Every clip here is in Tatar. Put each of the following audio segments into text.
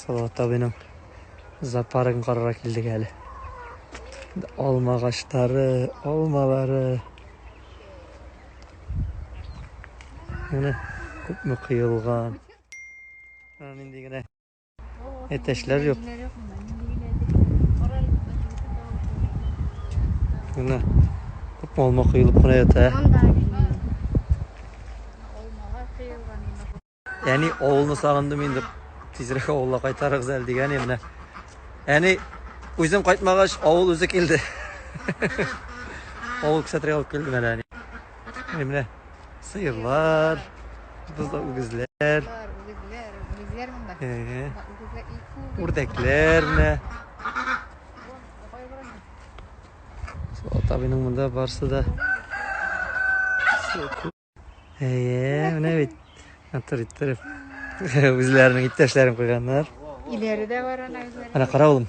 Салават абыйның зоопаркын карарга килдек әле. Алма агачлары, алмалары. Менә күпме кыелган. Менә нинди генә әтәчләр юк. Менә күпме алма кыелып кына ята. Әни авылны сагындым инде. Тизрәк авылга кайтарыгыз әле дигән идем менә. Әни үзем кайтмагач авыл үзе килде. Авыл күрсәтергә алып килде менә әни. Менә сыерлар, бузда үгезләр. Үгезләр, үгезләр монда. Үрдәкләр менә. Ата бинең монда барсы да. Әйе, менә бит. Матур иттереп. Үзләренең иптәшләрен куйганнар. Иләре дә бар ана үзләре. Ана кара улым.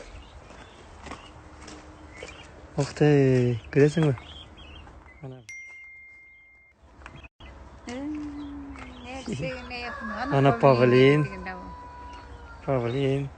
Ух ты, күрәсеңме? Ана. Ана павлин. Павлин.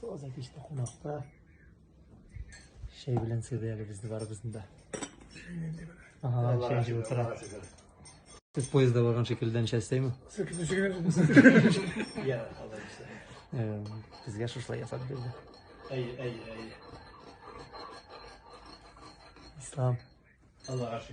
Соза кичте кунакта. Шәй белән сыйды әле безне барыбызны да. Ага, шәй җылы тора. Сез поездда барган шикелдән шәй эстәйме? Безгә шушлай ясап бирде. Әйе, әйе, әйе. Ислам. Аллага шөкер.